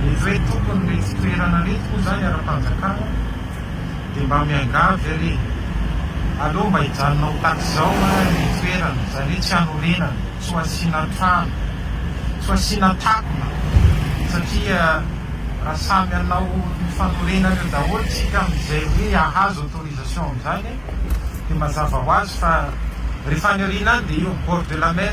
Ny hoe tompon'iretsy toerana iretsy moa izany ara-panjakana dia mba miangavy anie, aleo mba hijanona ho tak'izao ary ny toerana, izany hoe tsy hanorenana, tsy ho asiana trano, tsy ho asiana takona satria raha samy hanao ny fanorenana eo daholo isika amin'izay hoe hahazo autorisation amin'izany dia mazava ho azy fa rehefa any aoriana any dia eo bord de la mer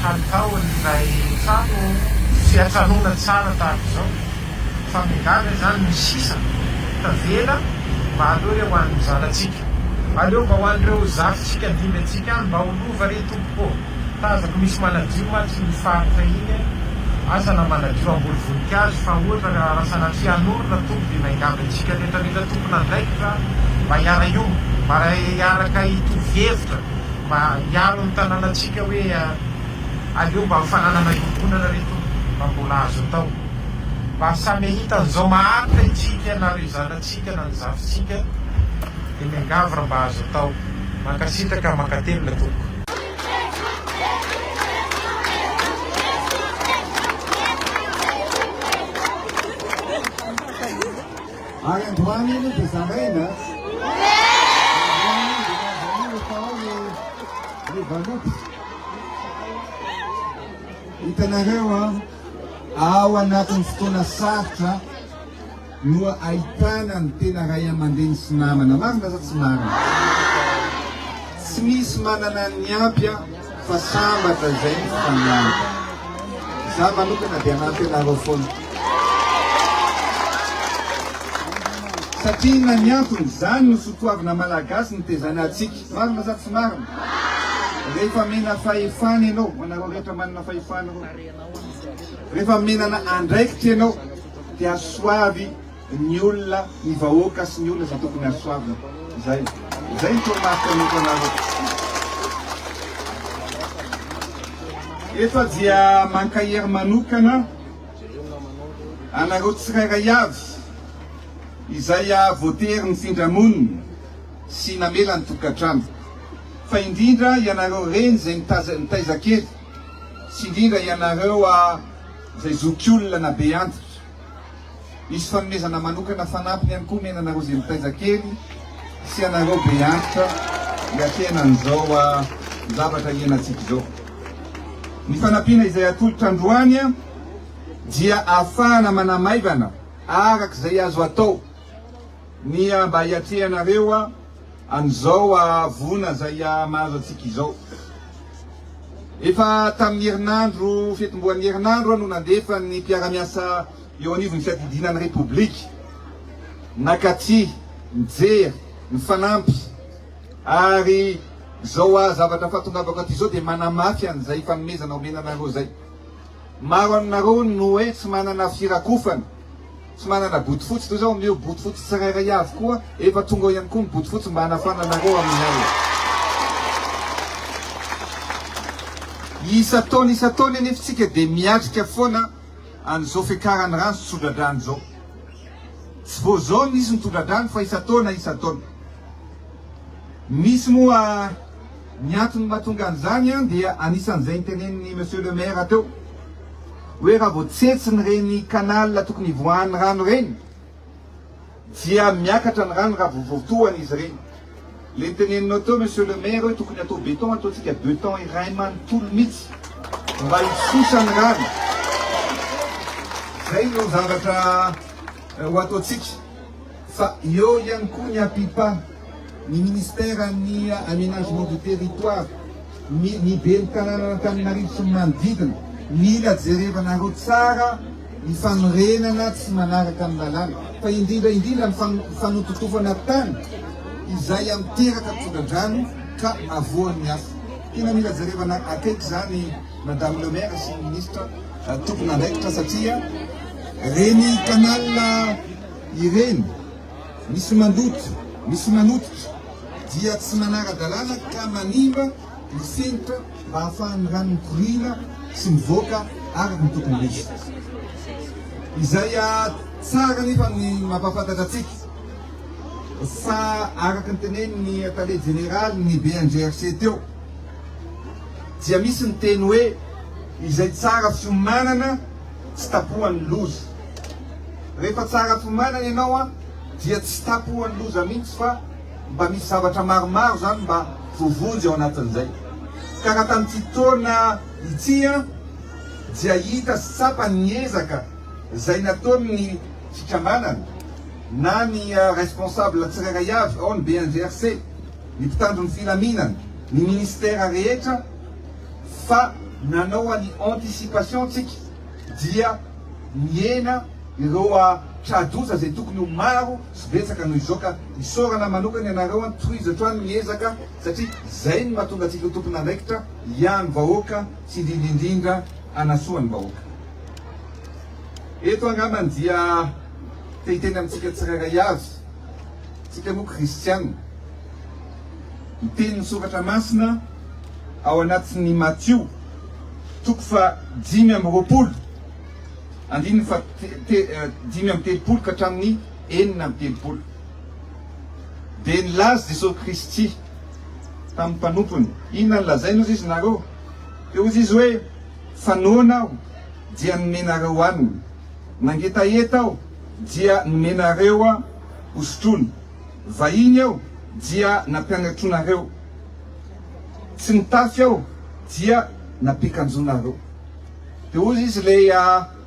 Kalitao an'ilay trano tsy atranoina tsara tahaka izao fa migaga izany ny sisa tavela mba aleo re ho an'ny zanatsika aleo mba ho an'ireo zafintsika dimby antsika any mba ho lova re tompoko ô! tazako misy manadio mantsy iny faritra iny e! asa na manadio hamboly voninkazo fa ohatra ry Rasanatria hanorina tompoko dia miangavy antsika rehetrarehetra tompon'andraikitra mba hiara-hiomba mba hiaraka hitovy hevitra mba hiaro ny tananantsika hoe aleo mba ho fananana iombonana re Tompo mba mbola azo atao mba samy ahita an'izao maharitra itsika na ry zanatsika na ny zafintsika dia miangavy raha mba azo atao. Mankasitraka mankatelina Tompoko. Ary androany iny dia zaraina. Androany dia mazan'iny atao ny ny valopy. Hitanareo a, ao anatin'ny fotoana sarotra no ahitana ny tena ray aman-dreny sy namana. Marina sa tsy marina? Tsy misy manana ny ampy a. Fa sambatra izay ny fanianiko. Izaho manokana dia hanampy anareo foana. Satria inona ny antony? Izany no sotoavina malagasy nitezana antsika. Marina sa tsy marina? Rehefa mena fahefana ianao, ho anareo rehetra manana fahefana ireo, rehefa menana andraikitra ianao dia soavy. ny olona, ny vahoaka sy ny olona izay tokony hahasoavina. Izay. Izay ny toromarika omeko anareo. Efa dia mankahery manokana anareo tsirairay avy izay voatery nifindra monina sy namela ny tokantrano, fa indrindra ianareo reny izay nitaiza kely sy indrindra ianareo izay zokiolona na be antitra. Hisy fanomezana manokana fanampiny ihany koa omena anareo izay mitaiza kely sy anareo be antitra hiatrehana an'izao zavatra hiainantsika izao. Ny fanampiana izay atolotra androany dia ahafahana manamaivana araka izay azo atao ny mba hiatrehanareo an'izao hahavoana izay hahamahazo antsika izao. Efa tamin'ny herinandro fetim-boan'ny herinandro no nandefan'ny mpiara-miasa eo anivon'ny fiadidiana ny Repoblika nakatia, nijery, nifanampy ary izao hahazavatra fahatongavako aty izao dia manamafy an'izay fanomezana omena anareo izay. Maro aminareo no hoe tsy manana firakofana. Tsy manana bodofotsy toy izao amin'io, bodofotsy tsirairay avy koa efa tonga ao ihany koa ny bodofotsy mba hanafana anareo amin'ny alina. Isan-taona isan-taona anefa isika dia miatrika foana an'izao fiakaran'ny rano sy tsodradrano izao. Tsy vao izao no nisy ny tsodradrano fa isan-taona isan-taona. Misy moa Ny antony mahatonga an'izany dia anisan'izay nitenenin'i Monsieur le Maire teo hoe raha vao tsetsin'ireny canal tokony hivoahan'ny rano ireny dia miakatra ny rano raha vao voatohana izy ireny. Ilay niteneninao teo Monsieur le Maire hoe tokony atao beton ataontsika beton iray manontolo mihitsy mba hisosa ny rano. Izay no zavatra ho ataontsika. Fa eo ihany koa ny APIPA, ny Ministeran'ny Aménagement du Territoire, ny ny Ben'ny Tanànan'Antananarivo sy ny manodidina. Mila jerevanareo tsara ny fanorenana tsy manaraka ny lalàna, fa indrindra indrindra ny fanototofana tany izay miteraka tsodradrano ka avoan'ny afo. Tena mila jerevana akaiky izany Madame le Maire sy ny Ministra tompon'andraikitra satria reny canal Ireny, misy mandoto, misy manototra, dia tsy manara-dalàna ka manimba ny fenitra mba hahafahan'ny rano mikoriana sy mivoaka araka ny tokony ho izy. Izay tsara anefa no mampahafantatra antsika fa araka ny tenenin'ny Tale Jeneraly ny BNGRC teo dia misy ny teny hoe izay tsara fiomanana, tsy tapohan'ny loza. Rehefa tsara fiomanana ianao an, dia tsy tapohan'ny loza mihitsy fa mba misy zavatra maromaro izany mba voavonjy ao anatin'izay. Ka raha tamin'ity taona ity an, dia hita sy tsapa ny ezaka izay nataon'ny fikambanana na ny responsable tsirairay avy ao ny BNGRC, ny mpitandro ny filaminana, ny ministera rehetra, fa nanao an'i anticipation tsika dia nihena ireo tra-doza izay tokony ho maro sy betsaka noho izao ka isaorana manokana ianareo an tohizo hatrany ny ezaka satria izay no mahatonga antsika ho tompon'andraikitra hiany vahoaka sy indrindra indrindra hanasoa ny vahoaka eto angambany dia te hiteny amintsika tsirairay avy tsika moa kristiana ny tenin'ny Soratra Masina ao anatin'ny Matio toko fahadimy amby roapolo andininy fahadimy amby telopolo ka hatramin'ny enina amby telopolo. Dia nilaza Jesosy Kristy tamin'ny mpanompony, inona no lazainy? Hozy izy nareo, dia hozy izy hoe, Fa noana aho, dia nomenareo hohanina, nangetaheta aho, dia nomenareo hosotroina. vahiny aho dia nampianatronareo, tsy nitafy aho dia nampiakanjoanareo. Dia hoy izy ilay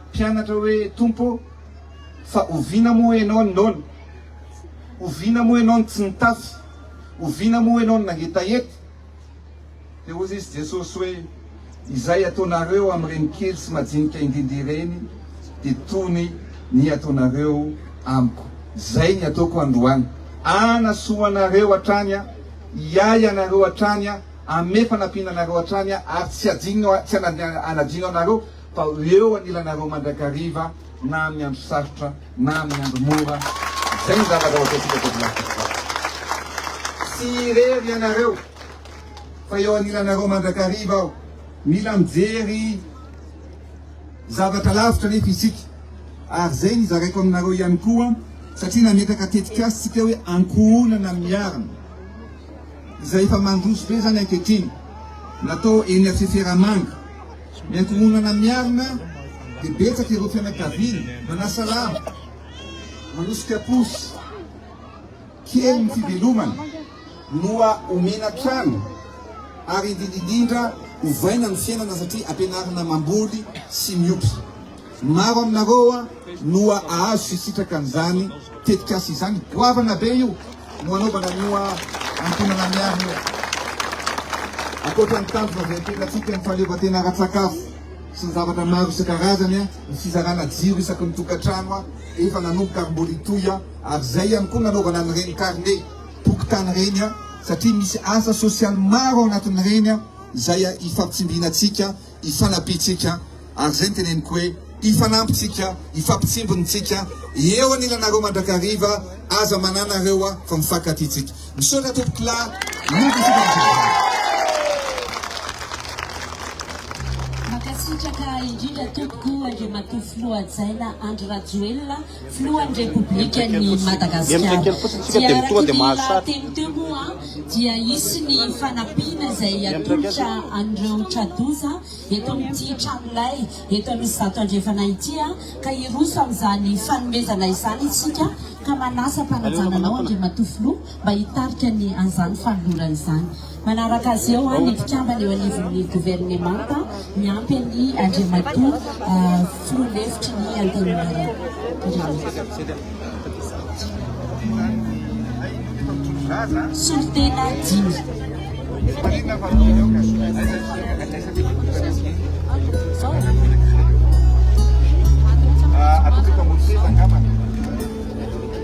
mpianatra hoe, Tompo ô, fa oviana moa ianao ny noana? Oviana moa ianao no tsy nitafy? Oviana moa ianao no nangetaheta? Dia hoy izy, Jesosy, hoe, Izay ataonareo amin'ireny kely sy majinika indrindra ireny, dia tony ny ataonareo Amiko. Izay ny ataoko androany. Hanasoa anareo hatrany Aho, hiahy anareo hatrany Aho, hanome fanampiana anareo hatrany Aho, ary tsy hadino, tsy hanadino anareo, fa ho eo anilanareo mandrakariva na amin'ny andro sarotra. na amin'ny andro mora, izay ny zavatra hoataontsika teto Madagasikara. Tsy irery ianareo fa eo anilanareo mandrakariva aho. Mila mijery zavatra lavitra anefa isika ary izay ny zaraiko aminareo ihany koa satria nametraka tetikasa isika hoe ankohonana miarina izay efa mandroso be izany ankehitriny natao eny Fiferamanga Ny ankohonana miarina dia betsaka ireo fianakaviana manasalama, manosika posy kely ny fivelomana noa omena trano ary indrindra indrindra ovaina ny fiainana satria ampianarina mamboly sy miompy. Maro aminareo no ahazo fisitraka an'izany tetikasa izany. Goavana be io no anaovana an'io antonana miarina io. Ankoatra ny tanjona izay apetratsika ny fahaleovantena ara-tsakafo sy ny zavatra maro isan-karazany, ny fizarana jiro isaky ny tokantrano efa nanomboka ary mbola hitohy, ary izay ihany koa nanaovana an'ireny karne tokotany ireny, satria misy asa sosialy maro ao anatin'ireny izay ifampitsimbinantsika. hifanampiantsika, ary izay no teneniko hoe hifanampintsika, hifampitsimbinitsika, eo anilanareo mandrakariva, aza manana reo a, fa mifankatia tsika. Misaotra tompokolahy, miova isika amin'izay zavatra. Mankasitraka indrindra tompoko Andriamatoa Filoha Hajaina Andry Rajoelina. Filohan'ny Repoblikan'i Madagasikara. Dia araka ny lahateny teo moa dia hisy ny fanampiana izay atolotra an'ireo tra-doza eto amin'ity tranolay eto Anosizato Andrefana ity ka hiroso amin'izany fanomezana izany isika ka manasa am-panajana anao Andriamatoa Filoha mba hitarika ny an'izany fanolorana izany. Manaraka azy eo ny mpikambana eo anivon'ny governemanta miampy an'i Andriamatoa filoha lefitry ny Antenimierandoholona. Solontena dimy.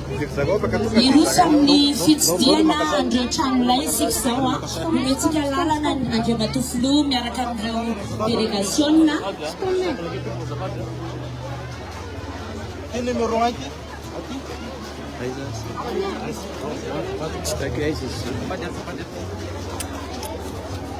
Hiroso amin'ny fitsidihana an'ireo trano lay isika izao. Omentsika lalana ny Andriamatoa Filoha miaraka amin'ireo delegasiona.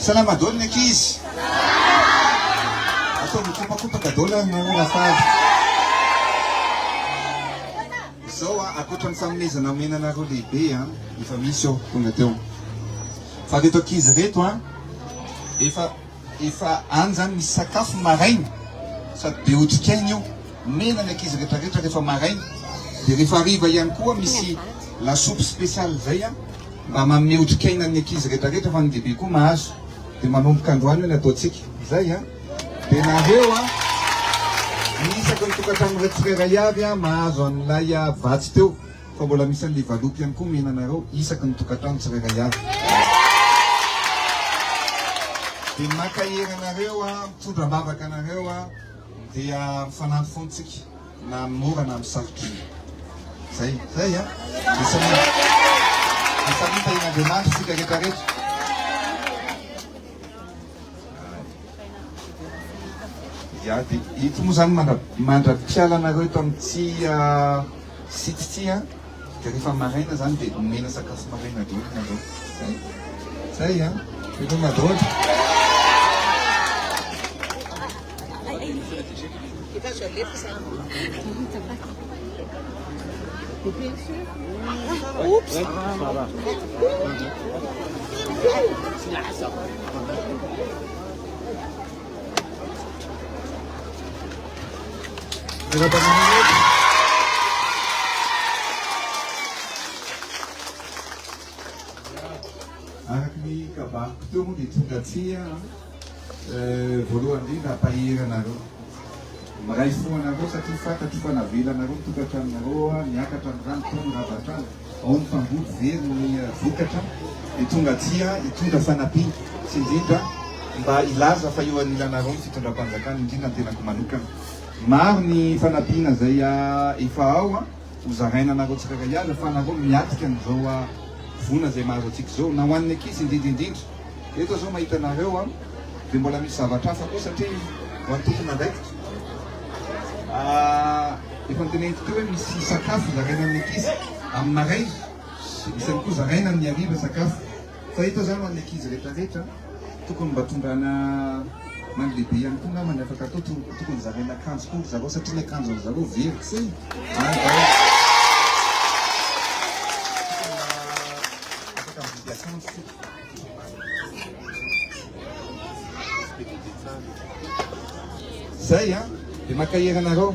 Salama dolo ny ankizy. Atao mikopakopaka dolo ny ora fahavy. Izao a, akoatra ny fanomezana omena anareo lehibe a, efa misy eo tonga teo. Fa reto ankizy reto a, efa Efa any zany misy sakafo maraina sady be otrikaina io, omena ny ankizy rehetra rehetra rehefa maraina, dia rehefa hariva ihany koa misy lasopy spécial zay an, mba manome otrikaina an'ny ankizy rehetra rehetra fa ny lehibe koa mahazo, dia manomboka androany ny ataontsika, zay an, dia nareo an, ny isaky ny tokantrano iray tsirairay avy an mahazo an'ilay vatsy teo. fa mbola misy an'le valopy ihany koa omena anareo isaky ny tokantrano tsirairay avy dia mankahery anareo an mitondra ambavaka anareo an dia mifanampy foana tsika na amin'ny mora na amin'ny sarotra zay zay an misaritahina andriamanitra tsika rehetra rehetra Ya de ito moa zany mandra mandra-piala anareo eto amin'ny Tsia site Tsia de rehefa maraina zany de omena sakafo maraina daholo nareo zay zay a veloma daholo Araka ny kabary-ko teo moa dia tonga aty an. Voalohany indrindra mpahery anareo. Miray fo anareo satria fantatro fa navelanareo ny tokantranonareo niakatra ny rano tao ny rava-trano, ao ny mpamboly very ny vokatra dia tonga aty hitondra fanampiana sy indrindra mba hilaza fa eo anilanareo ny fitondram-panjakana indrindra ny tenako manokana. Maro ny fanampiana izay efa ao. Ho zaraina anareo tsirairay avy fa anareo miatrika an'izao voina izay mahazo antsika izao na ho an'ny ankizy indrindra indrindra. Eto aho izao mahita anareo an, dia mbola misy zavatra hafa koa satria ho antsika manaikitra an, efa noteneniko teo hoe misy sakafo zaraina amin'ny ankizy amin'ny maraina, misy ihany koa zaraina amin'ny hariva sakafo. Fa eto za ho an'ny ankizy rehetra rehetra tokony mba tondrana ho an'ny lehibe ihany koa angamba ny afaka atao tokony zaraina akanjo koa ry zareo satria ny akanjon'ny zareo very k'izay ary mba afaka mividy akanjo koa zay a dia mankahery anareo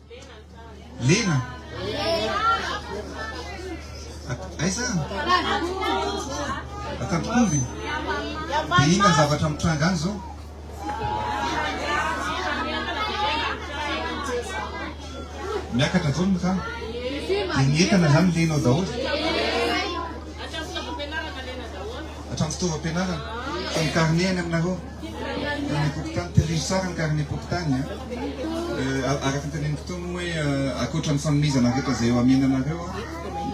Lena. Aiza? Atantokomby. Dia inona ny zavatra mitranga any izao? Miakatra izao ny motana. Dia ny entana izany lena ao daholo. Hatramin'ny fitaovam-pianarana. Fa ny karne any aminareo. Ranom-pokontany Terrige Tsara ny karnem-pokontany a! Araka ny tenenin'ny mpitory moa hoe ankoatra ny fanomezana rehetra izay eo amiananareo a!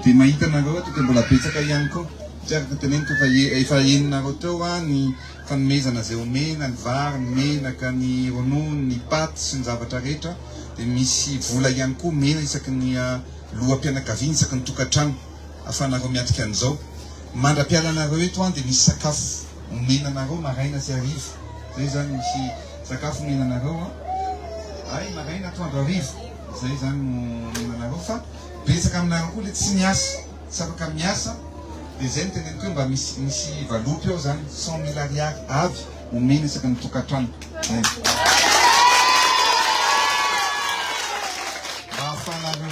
dia mahita anareo ato dia mbola betsaka ihany koa satria araka ny teneniko efa efa henonareo teo a! ny fanomezana izay omena, ny vary, ny menaka, ny ronono, ny paty sy ny zavatra rehetra dia misy vola ihany koa omena isaky ny loham-pianakaviana isaky ny tokantrano. afanareo miatrika an'izao. Mandra-piala anareo eto an dia misy sakafo omena anareo maraina sy hariva. Izay izany misy sakafo omena anareo an. Hay maraina, atoandro, hariva. Izay izany no omena anareo fa betsaka aminareo koa ilay tsy miasa, tsy afaka miasa dia izay no teneniko hoe mba misy misy valopy ao izany. Cent mille ariary avy omena isaky ny tokantrano. Izay no. Mba ahafahanareo.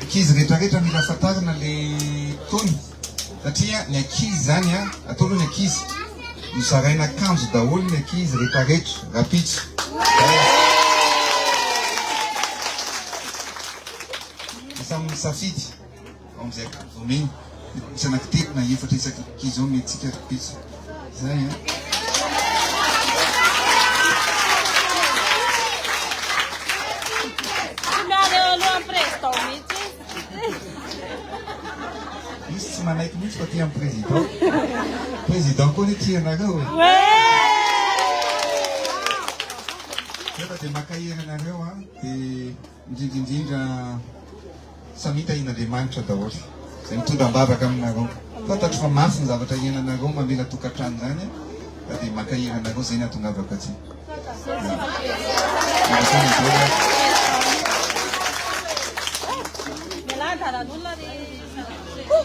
Ankizy rehetra rehetra mila fantarina le tony satria ny ankizy zany a atao aloha ny ankizy no zaraina akanjo daholo ny ankizy rehetra rehetra rapitso samy misafidy ao amizay akanjo omeny Misy anaky telo na efatra isaky ny kizao omentsika ry pitsy. Zay an. Misy tsy manaiky mihitsy fa tia amin'ny président. Président koa ny tia anareo e. Nefa dia maka hery anareo an. Dia Indrindra indrindra samia tahian'Andriamanitra daholo izay mitondra am-bavaka aminareo. Fantatro fa mafy ny zavatra iainanareo mamela tokantrano izany ka dia mankahery anareo izay no ahatongavako aty. Mialà an-dalan'olona ry zanak'i Jesoa.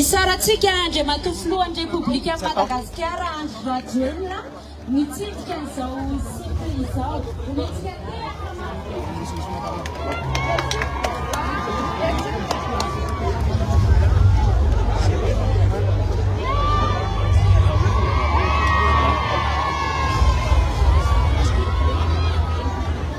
Isaorantsika Andriamatoa Filohan'ny Repoblikan'i Madagasikara Andry Rajoelina mitsidika izao site izao. Omentsika tehaka mafy.